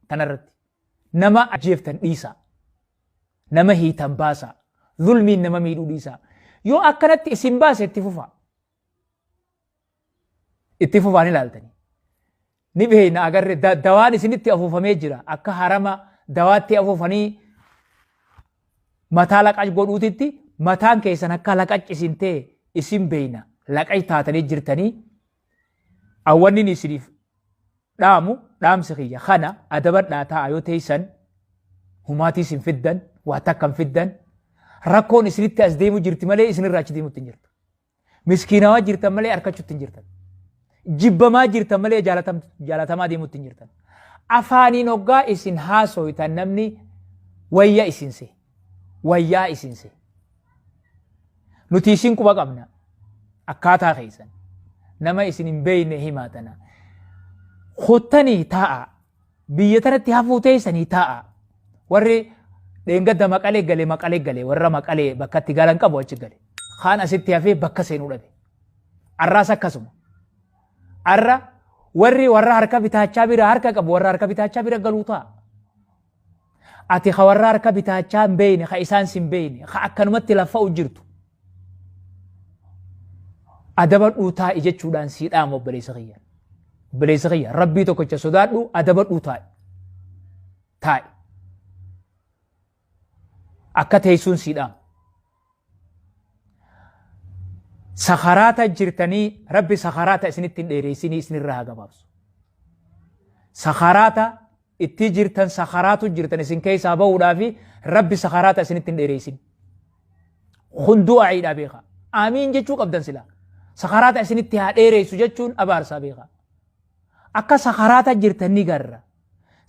tanarratti nama ajjeeftan dhiisaa nama hiitan baasaa zulmiin nama miidhuu dhiisaa yoo akkanatti isin baase itti fufaa itti fufaan ilaaltanii ni beekna agarre da- dawaan isinitti afuufamee jira akka harama dawaatti afuufanii mataa laqac godhuutitti mataan keessan akka laqac isin ta'e isin beekna laqac taatanii jirtanii awwannin isiniif dhaamu dhaamsi kiyya kana adabadhaa taa'a yoo teeysan humaatii isin fiddan waa takka hin fiddan rakkoon isinitti as deemu jirti malee isinirraa achi deemutti hin jirtu. Miskiinawaa jirtan malee harkachuutti hin jirtan. Jibbamaa jirtan malee jaalatam- jaalatamaa deemutti hin jirtan. Afaaniin hoggaa isin haasoytan namni wayya isin see. wayyaa isin se nuti isin quba qabna akkaataa keessan nama isin hin beeyne himaa tana kottanii taa'a biyya tanatti hafuu teessanii taa'a warri dheengadda maqalee gale maqalee gale warra maqalee bakka itti galan qabu achi gale kaan asitti hafee bakka seenuu dhabe arraas akkasuma arra warri warra harka bitaachaa bira harka qabu warra harka bitaachaa bira galuu ta'a Ati ka warra harka bitaachaa hin beeyne, ka isaan sin beeyne, ka akkanumatti laffa'u jirtu. Adabadhuu taa'i jechuudhaan sii dhaama obboleessa kiyya. Obboleessa kiyya rabbii tokkicha sodaadhu adabadhuu taa'i. Taa'i. Akka teessuun sii dhaama. sakaraata jirtanii rabbi sakaraata isinitti hin dheereessinii isinirraa haa gabaabsu sakaraata ittii jirtan sakaraatu jirtan isin keessaa bahuudhaa fi rabbi sakaraata isinitti hin dheereessin kun du'aa'iidhaa beekaa aamiin jechuu qabdan silaa sakaraata isinitti haa dheereessu jechuun abaarsaa beekaa akka sakaraata jirtan ni garra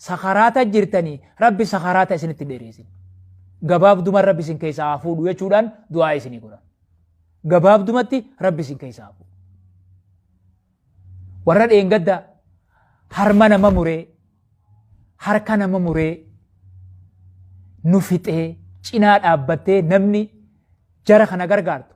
sakaraata jirtanii rabbi sakaraata isinitti dheereesin gabaabduman rabbi isin keessaa haa fuudhu jechuudhaan du'aa isinii godhan gabaabdumatti rabbi isin keessaa haa fuudhu warra dheengadda harma nama muree harka nama muree nu fixee cinaa dhaabbattee namni jara kana gargaartu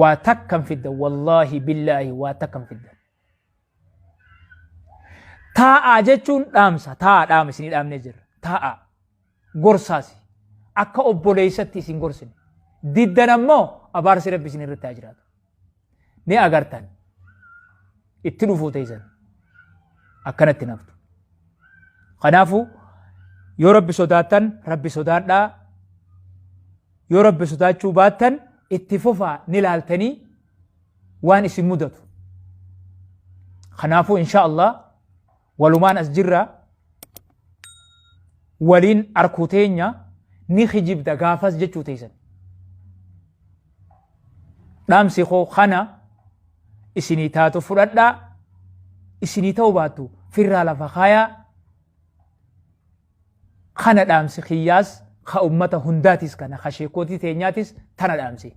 waa takkan fidda wallaahi billaahi waa takkan fidda taa'aa jechuun dhaamsa taa'aa dhaama isinii dhaamnee jirra taa'aa gorsaasi akka obboleessatti isin gorsine diddan ammoo abaarsi rabbi isin irratti haa jiraatu ni agartan itti dhufuu teessan akkanatti naftu. Kanaafuu yoo rabbi sodaattan rabbi sodaadhaa yoo rabbi sodaachuu baattan itti fufaa ni laaltanii waan isin mudatu. Kanaafuu insha Allah walumaan as jirra waliin arkuu teenya ni kijibda gaafas jechuu teessan dhaamsi koo kana isinii taatu fudhadhaa isinii ta'u baattu firraa lafa kaayaa kana dhaamsi kiyyaas ka ummata hundaatis kana ka sheekootii teenyaatis tana dhaamsi.